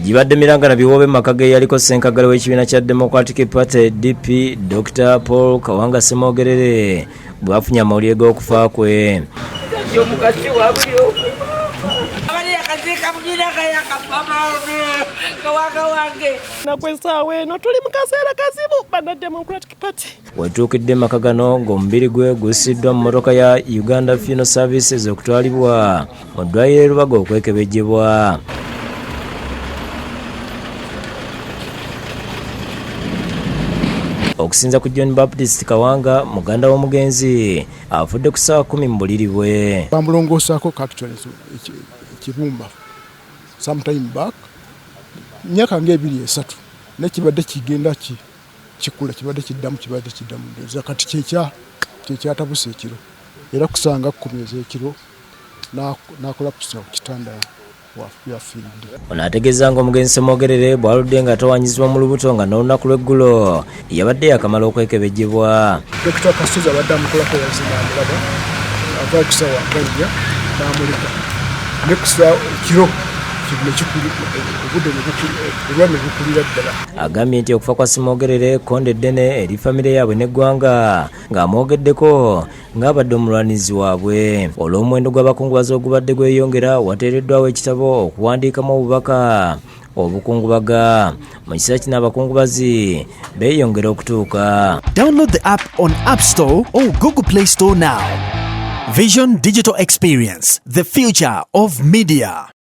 gibadde miranga na biwoobe mu maka geyaliko ssenkagale w'ekibiina kya democratic party dp dr paul kawanga semoogerere bwafunye amawulire g'okufa kwe nakwesawa eno tuli mu kaseera kazibu bana democratic party Wetuukidde mu maka gano ng'omubiri gwe gussiddwa mu mmotoka ya Uganda Funeral Services okutwalibwa mu ddwaliro e Lubaga okwekebejjebwa. okusinza ku john baptist kawanga muganda w'omugenzi afudde ku saawa kumi mu buliri bwe bamulongoosaako cactons ekibumba sometime back myaka nga ebiri esatu naye kibadde kigenda ki kikula kibadde kiddamu kibadde kiddamu ndoza kati kyekya kyekyatabusa ekiro era kusanga kkumi ez'ekiro n'akola pusa ku kitanda ono ategeeza nga omugenzi semwogerere bwaludde nga atawanyizibwa mu lubuto nga n'olunaku lw'eggulo yabadde yakamala okwekebejebwa dokita kasozi abadde amukolako yazina amulaba ava okusawa gajja n'amuleka nekusa kiro kino kikuli obudde olwa ne bukulira ddala agambye nti okufa kwa Simogerere kkonde eddene eri famire yaabwe n'eggwanga ng'amwogeddeko ng'abadde omulwanizi waabwe olw'omuwendo gw'abakungubazi ogubadde gweyongera wateereddwawo ekitabo okuwandiikamu obubaka obukungubaga mu kiseera kino abakungubazi beeyongera okutuuka download the app on app store or google play store now vision digital experience the future of media